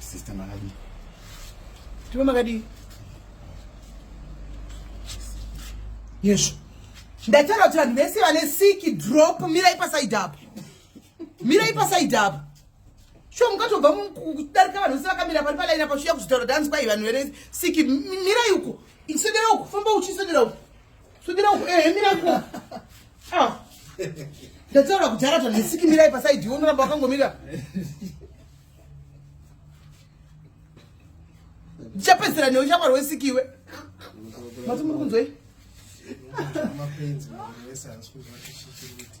Sister Makadi. Tuwe Makadi. Yes. Ndataura kuti vanhu vese vane siki drop mirai pasaidi apo. Mirai pasaidi apo. Sho mukatobva kudarika vanhu vese vakamira pari palaini apo chiya kuzvitaura dance kwai vanhu vene siki mirai uko. Isodera uko, famba uchisodera uko. Sudira uko eh mira uko. Ah. Ndataura kuti akati ndisiki mirai pasaidi iwe unoramba wakangomira. Ndichapedzera newe uchapara wesiki iwe. Mati muri kunzwei? Mapenzi, mese hansi kuzwa kuti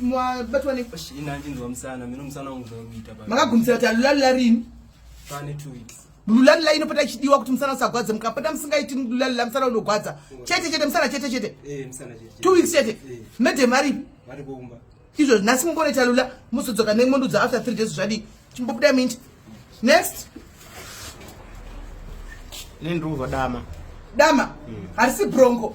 mabatwa neinachinzwa musana mino musana wangu zvakuita makagumisira kuti alulalula rini pane two weeks lulalula inopota ichidiwa kuti musana usagwadze mukapota musingaiti lulalula musana unogwadza chete chete musana chete chete eh, two weeks chete eh. madam aripi izvo nhasi mumboona italula muzodzoka nemondudza after three days zvadii chimbobuda minti next nendiuva dama dama hmm. harisi brongo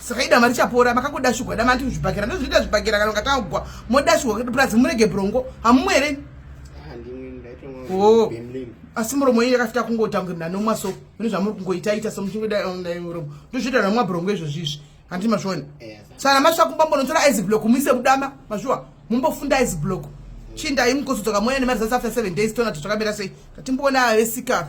saka idama richapora makakudashugwa dama anti kuzvibhakera ndozvinoita zvibhakera kana ungatanga kugwa modashugwa kuti purazi murege brongo hamumu here ah, oh. asi muromo yenyu yakafita kungotangwe mna nomwa so mune zvamuri kungoitaita so muchingodamuromo um, ndozvinoita nomwa brongo izvozvi izvi handi mazviona eh, sana masvika kumba mbonotora iceblock muise kudama mazviwa mumbofunda iceblock chindai mukosodzoka moya nemari zasi after seven days toona tozvakamira sei tatimboona avesika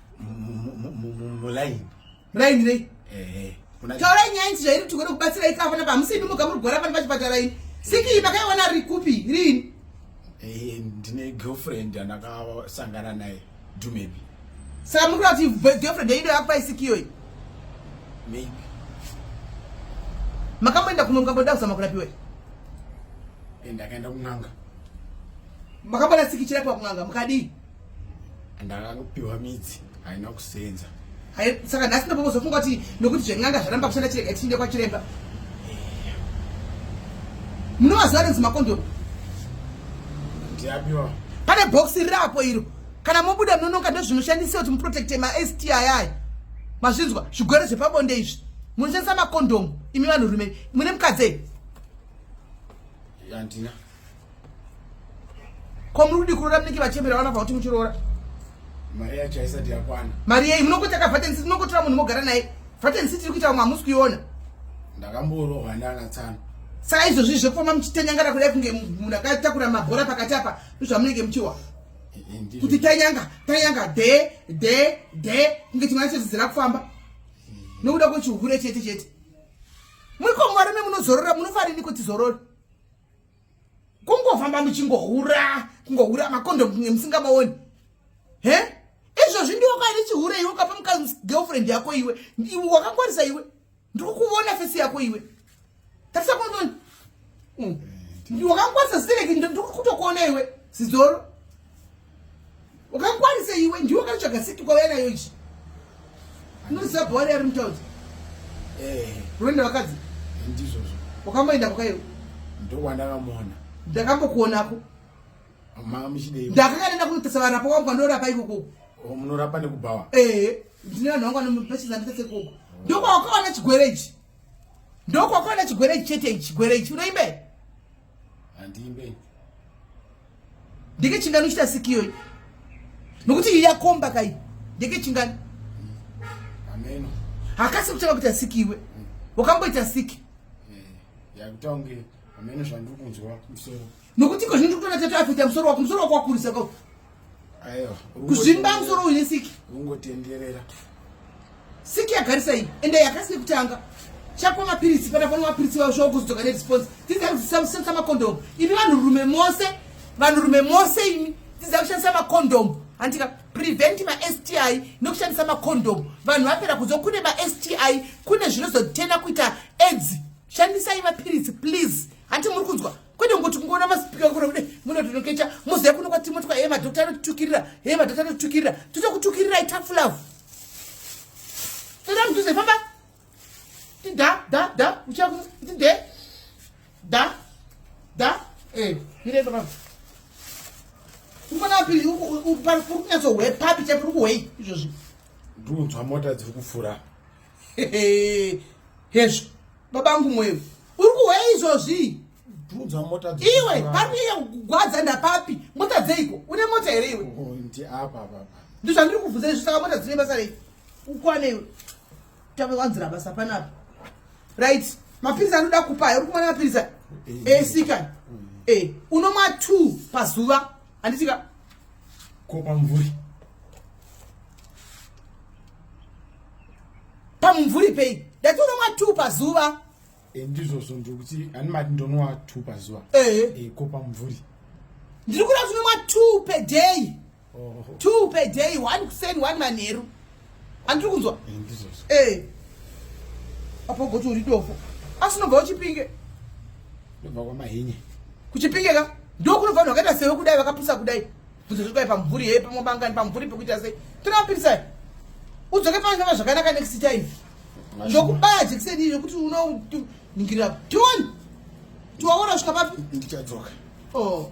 mulaini mulaini nei eh, taurai nyaya inzi zvairi kuti kuda kubatsira ika apana pamusi imi muga muri kugwara pani pachipatara ini sikii makaiona ri kupi riini eh, ndine girlfriend andakasangana naye dumebi saka muri kuda kuti girlfriend yaido yakupa isikiyoyi maybe makamboenda kuno mukamboda kuzama kurapiwa eh, ndakaenda kun'anga makambona sikicira pa kun'anga mukadii ndakapiwa midzi haina kusenza saka nhasi ndopokozofunga kuti nokuti zven'anga zvaramba kushanda chirega tichiende kwachiremba munovaziva renzi makondomu ndiapiwa pane bhokisi riri apo iro kana mobuda munononga ndozvinoshandisa kuti muprotecte masti mazvinzwa zvigwere zvepabonde izvi munoshandisa makondomu imi vanhurume mune mukadzi handina Ko muri kudi kuroora munenge vachembera vana kuti muchiroora. Mari yacho haisati yakwana. Mari yei munokuita ka vat and sit munokotora munhu mogara naye. Vat and sit iri kuita vamwe hamusi kuiona. Ndakamborohwa nana tsano. Saka izvozvi zvekufamba muchitanyangara kudai kunge munhu akatakura mabhora pakati apa ndozvamunenge muchiwa. Kuti tanyanga, tanyanga de de de kunge chimwana chedzidzira kufamba. Nokuda kwechihure chete chete. Muri ko mwarume munozorora munofarini kuti zorore. kungofamba muchingohura kungohura makondomu kunge musingamaoni he izvozvi ndiwo kwaine chihure iwe ukapa mukazi girlfriend yako iwe iwe wakangwarisa iwe ndiri kuvona fesi yako iwe tarisa kunoni hmm. wakangwarisa sireki ndiri kutokuona iwe sizoro wakakwanisa iwe ndiwe wakatsvaga siti kwauya nayo ichi anoziva bhawari ari mutaudzi eh. unoenda vakadzi eh, ndizvozvo wakamboenda kwakaiwe ndokwandakamuona ndakambokuonako ndakakaenda kunotesa varapa wangu andorapa ikoko oh, munorapa nekubhawa ehe eh, ndine vanhu vangu anopachizamitese koko ndokwawakawana chigwere ichi ndokwawakawana chigwere ichi chete ichi chigwere ichi unoimbe handiimbe ndeke chingani uchita siki iyoyi nokuti iyi yakomba kai ndeke chingani hakasi kutanga kuita siki iwe wakamboita siki eh, nokuti iko zvino ndikutona tatu afita musoro wako musoro wako wakurisa kuzvimba musoro uine siki ungotenderera Siki yagarisa iyi ende yakasi nekutanga chakwa mapiritsi pana pano mapiritsi vavo zvavo kuzodzoka neresponse tidzai kudzidzisa kushandisa makondomu imi vanhurume mose vanhurume mose imi tidzai kushandisa makondomu handika prevent masti nekushandisa makondomu vanhu vapera kuzo kune masti kune zvinozotena kuita edzi shandisai mapiritsi please hanti muri kunzwa kwete ngokuti kungoona masipika kure kude muno tinokecha muziva kuno kwatimotwa he madhokta anotitukirira he madhokta anotitukirira totokutukirirai tafulavu toda mudhuze famba tida da da uchaku tide da da eh mire baba ukona pili upari kuri kunyatso hwe papi chaipo uri kuhwei izvozvi ndikunzwa mota dziri kufura hezvo babangu mweyo uri kuhweya izvozvii bvunzwa mota iwe papi yekugwadza ndapapi mota dzeiko une mota here iwe oh, ndi apa apa ndi zvandiri kubvunza izvi saka mota dzine basa rei ukwane iwe tave wanzira basa panapa right mapirizi anoda kupa ayo uri kumwana mapirizi ayo esika eh, eh, eh. e unomwa two pazuva handitika ko pamvuri pamumvuri pei ndati unomwa two pazuva Eh, ndizvozvo ndikuti ani mati ndonwa two pazuva eh. eh, ko pamumvuri ndiri kuda kunomwa two per day oh. two per day one kuseni one manheru andiri kunzwa ndizvozvo apo goti uri dofo asi unobva uchipinge ndobva kwamahinye kuchipinge ka ndokunobva vanhu vakaita sewe kudai vakapusa kudai bvunzo zviri kudai pamumvuri hee pamwe bangani pamumvuri pekuita sei tinoapirisai udzoke panyama zvakanaka next time ndokubaya jekiseni iri kuti unoningirira tioni tiwaona svika papi ndichadzoka oh.